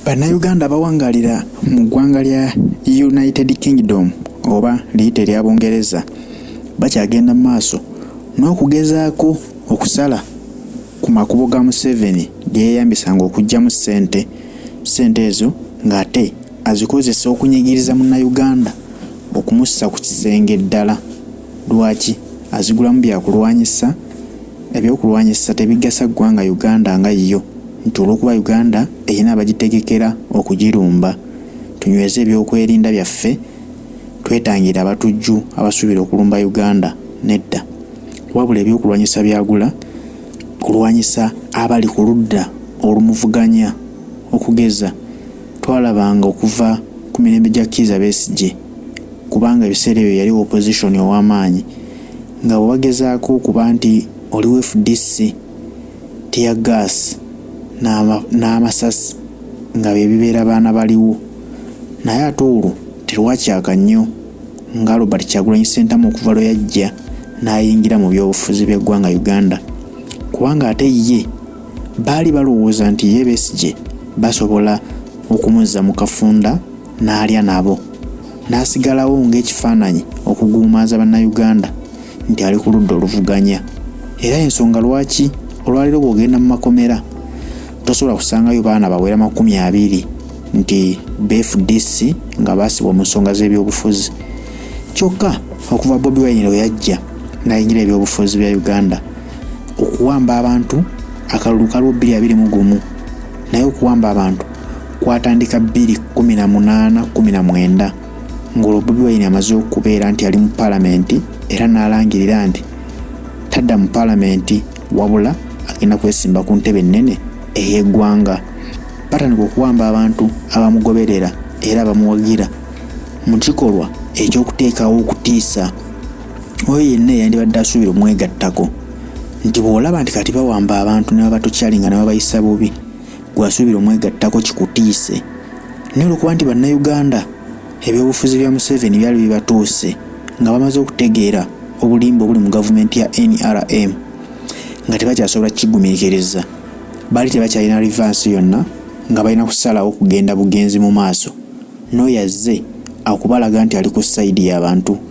Bannayuganda abawangaalira mu ggwanga lya United Kingdom oba liyite erya Bungereza bakyagenda mu maaso n'okugezaako okusala ku makubo ga Museveni ge yeeyambisanga okuggyamu ssente ssente ezo ng'ate azikozesa okunyigiriza Munnayuganda okumussa ku kisenge ddala. Lwaki? Azigulamu bya kulwanyisa, eby'okulwanyisa tebigasa ggwanga Uganda nga yo nti olw'okuba Uganda erina abagitegekera okugirumba. Tunyweze eby'okwerinda byaffe twetangire abatujju abasuubira okulumba Uganda? Nedda. Wabula eby'okulwanyisa byagula kulwanyisa abali ku ludda olumuvuganya okugeza, Twalabanga okuva ku mirembe gya Kiiza Besigye kubanga ebiseera ebyo yali opposition ow'amaanyi nga bwe bagezaako okuba nti oli wa fdc tear gas n'amasasi nga bye bibeera baana baliwo naye ate olwo terwakyaka nnyo nga Robert Kyagulanyi Ssentamu okuva lwe yajja n'ayingira mu byobufuzi by'eggwanga Uganda kubanga ate ye baali balowooza nti ye Besigye basobola okumuzza mu kafunda n'alya nabo n'asigalawo ng'ekifaananyi okuguumaaza bannayuganda nti ali ku ludda oluvuganya era ensonga lwaki olwaleero bw'ogenda mu makomera tosobola kusangayo baana bawera makumi abiri nti bfdc nga baasibwa mu nsonga z'ebyobufuzi kyokka okuva bobi wine lwe yajja n'ayingira ebyobufuzi bya uganda okuwamba abantu akalulu kaliwo bbiri abiri mu gumu naye okuwamba abantu kwatandika bbiri kumi na munaana kumi na mwenda ng'olwo bobi wayini amaze okubeera nti ali mu palamenti era n'alangirira nti tadda mu palamenti wabula agenda kwesimba ku ntebe ennene ey'eggwanga batandika okuwamba abantu abamugoberera era abamuwagira mu kikolwa ekyokuteekawo okutiisa oyo yenna eyandibadde asuubira omwegattako nti bw'olaba nti kati bawamba abantu ne babatukyalinga ne babayisa bubi gwasuubira omwegattako kikutiise naye olwokuba nti bannayuganda ebyobufuzi bya museveni byali bibatuuse nga bamaze okutegeera obulimba obuli mu gavumenti ya nrm nga tebakyasobola kukigumiikiriza baali tebakyalina rivansi yonna nga balina kusalawo kugenda bugenzi mu maaso n'oyo azze akubalaga nti ali ku sayidi y'abantu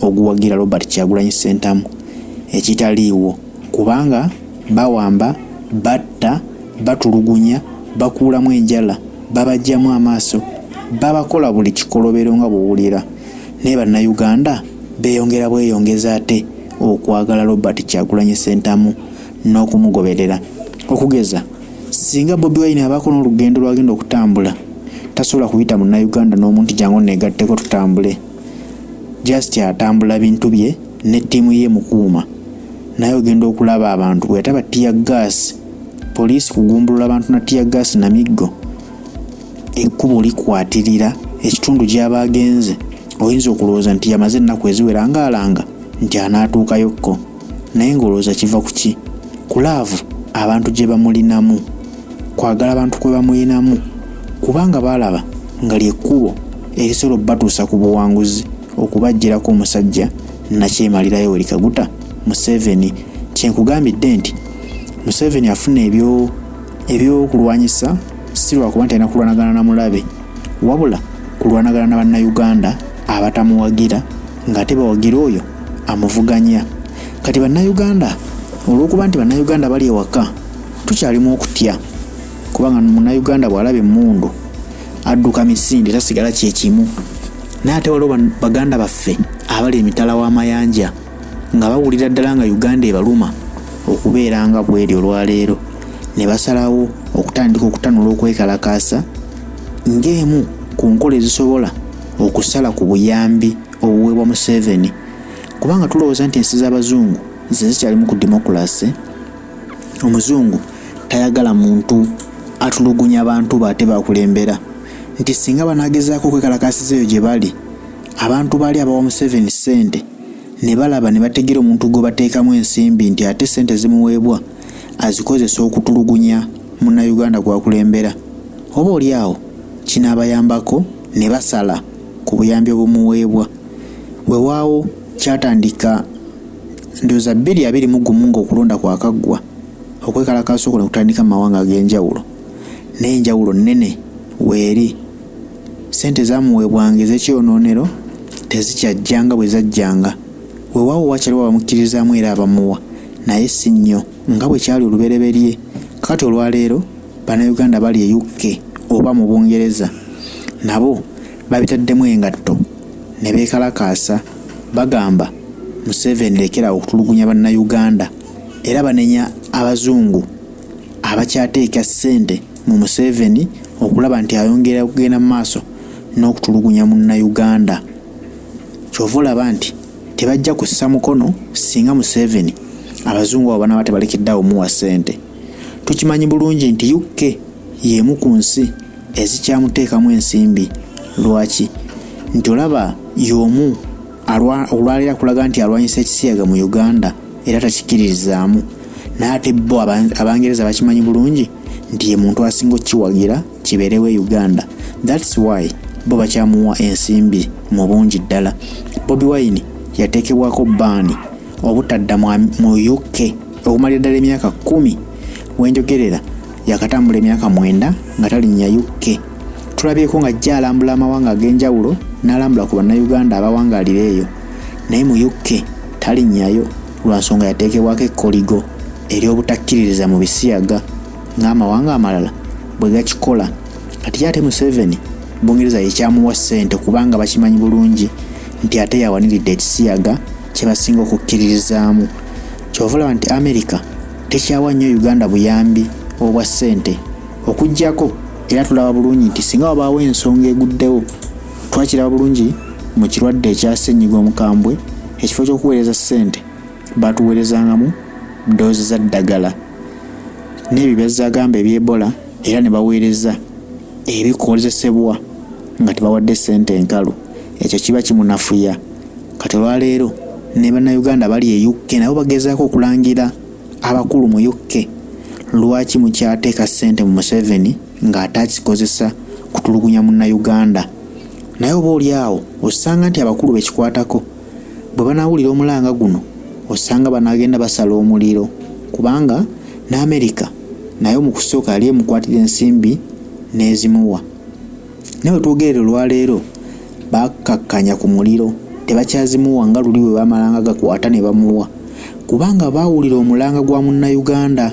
oguwagira Robert Kyagulanyi Ssentamu ekitaliiwo kubanga bawamba, batta, batulugunya, bakuulamu enjala, babajjamu amaaso, babakola buli kikolobero nga bwowulira naye Bannayuganda beeyongera bweyongezi ate okwagala Robert Kyagulanyi Ssentamu n'okumugoberera. Okugeza singa Bobi Wine abaako n'olugendo lw'agenda okutambula tasobola kuyita Munnayuganda n'omu nti jangu onneegatteko tutambule. just atambula bintu bye ne ttiimu ye mukuuma naye ogenda okulaba abantu bweyataba tiya gaasi poliisi kugumbulula abantu na tiya gaasi na miggo ekkubo likwatirira ekitundu gy'aba agenze oyinza okulowooza nti yamaze ennaku eziwera ng'alanga nti anaatuukayokko naye ng'olowooza kiva ku ki ku laavu abantu gye bamulinamu kwagala abantu kwe bamulinamu kubanga baalaba nga lyekkubo erisobola okubatuusa ku buwanguzi okubajjirako omusajja nakyemalirayo weri kaguta museveni kyenkugambidde nti museveni afuna ebyo ebyokulwanyisa si lwakuba nti alina kulwanagana na mulabe wabula kulwanagana na bannayuganda abatamuwagira ng'ate bawagira oyo amuvuganya kati bannayuganda olw'okuba nti bannayuganda bali ewaka tukyalimu okutya kubanga munnayuganda bw'alaba emmundu adduka misinde tasigala kyekimu naye ate waliwo baganda baffe abali emitala w'amayanja nga bawulira ddala nga uganda ebaluma okubeera nga bweri olwaleero ne basalawo okutandika okutanula okwekalakaasa ng'emu ku nkola ezisobola okusala ku buyambi obuweebwa Museveni kubanga tulowooza nti ensi z'abazungu ze zikyalimu ku demokulase omuzungu tayagala muntu atulugunya abantu be ate bakulembera nti singa banagezaako okwekalakaasiza eyo gye bali abantu baali abawa Museveni ssente ne balaba ne bategeera omuntu gwe bateekamu ensimbi nti ate ssente zimuweebwa azikozesa okutulugunya munnayuganda gwakulembera oba oli awo kinaabayambako ne basala ku buyambi obumuweebwa. Wewaawo kyatandika ndowooza bbiri abiri mu gumu ng'okulonda kwakaggwa, okwekalakaasa okwo ne kutandika mu mawanga ag'enjawulo, naye enjawulo nnene weeri. Ssente ezaamuweebwanga ez'ekyonoonero tezikyajja nga bwe zajjanga. Wewaawo wakyaliwo abamukkirizaamu era abamuwa, naye si nnyo. Nga bwe kyali olubereberye, kaati olwaleero Bannayuganda abali e UK oba mu Bungereza nabo babitaddemu engatto ne beekalakaasa bagamba Museveni lekera okutulugunya Bannayuganda era banenya Abazungu abakyateeka ssente mu Museveni okulaba nti ayongera okugenda mu maaso n'okutulugunya Munnayuganda. Ky'ova olaba nti tebajja kussa mukono singa museveni abazungu abo banaba tebalekeddeawo muwa ssente tukimanyi bulungi nti uk y'emu ku nsi ezikyamuteekamu ensimbi lwaki nti olaba y'omu olwalira kulaga nti alwanyisa ekisiyaga mu uganda era takikiririzaamu naye ate bo abangereza bakimanyi bulungi nti ye muntu asinga okukiwagira kibeerewo e uganda thats why bo bakyamuwa ensimbi mu bungi ddala bobi wine yateekebwako baani obutadda mu uk okumalira ddala emyaka kumi wenjogerera yakatambula emyaka mwenda nga talinnya uk tulabyeko nga ajja alambula amawanga ag'enjawulo n'alambula ku bannayuganda abawangalira eyo naye mu uk talinnyayo lwa nsonga yateekebwako ekkoligo ery'obutakkiririza mu bisiyaga ng'amawanga amalala bwe gakikola kati ate museveni bungereza yekyamuwa ssente kubanga bakimanyi bulungi nti ate yawaniridde ekisiyaga kye basinga okukkiririzaamu kyova olaba nti amerika tekyawa nnyo uganda buyambi obwa ssente okuggyako era tulaba bulungi nti singa wabaawo ensonga eguddewo Twakiraba bulungi mu kirwadde ekya ssennyiga omukambwe, ekifo ky'okuweereza ssente baatuweerezangamu ddoozi za ddagala n'ebyo byazzagamba eby'Ebola era ne baweereza ebikozesebwa nga tebawadde ssente enkalu. Ekyo kiba kimunafuya. Kati olwaleero ne Bannayuganda bali e UK nabo bagezaako okulangira abakulu mu UK lwaki mukyateeka ssente mu Museveni ng'ate akikozesa kutulugunya munnayuganda naye oba oli awo osanga nti abakulu bekikwatako bwe banaawulira omulanga guno osanga banaagenda basala omuliro kubanga ne amerika naye mu kusooka yali emukwatira ensimbi n'ezimuwa naye wetwogerera olwaleero bakakkanya ku muliro tebakyazimuwa nga luli bwe bamalanga gakwata ne bamuwa kubanga baawulira omulanga gwa munnayuganda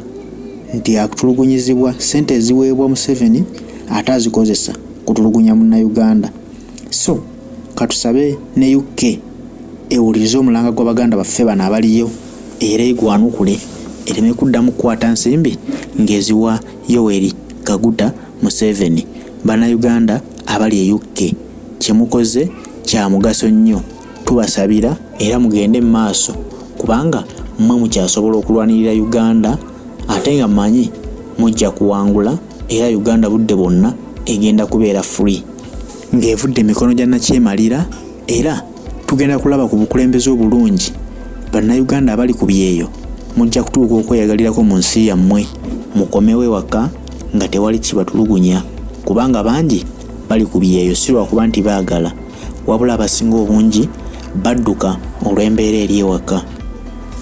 nti atulugunyizibwa sente eziweebwa Museveni ate azikozesa kutulugunya munnayuganda so katusabe ne UK ewulirize omulanga gwa baganda baffe bano abaliyo era egwanukule ereme kuddamu kukwata nsimbi ng'eziwa Yoweri Kaguta Museveni. Bannayuganda abali e UK kye mukoze kya mugaso nnyo tubasabira era mugende mu maaso kubanga mmwe mukyasobola okulwanirira uganda ate nga manyi mujja kuwangula era uganda budde bwonna egenda kubeera free ng'evudde emikono gya nakyemalira era tugenda kulaba ku bukulembeze obulungi bannayuganda abali ku byeyo mujja kutuuka okweyagalirako mu nsi yammwe mukomewo ewaka nga tewali kibatulugunya kubanga bangi bali ku byeyo si lwakuba nti baagala wabula abasinga obungi badduka olw'embeera eri ewaka.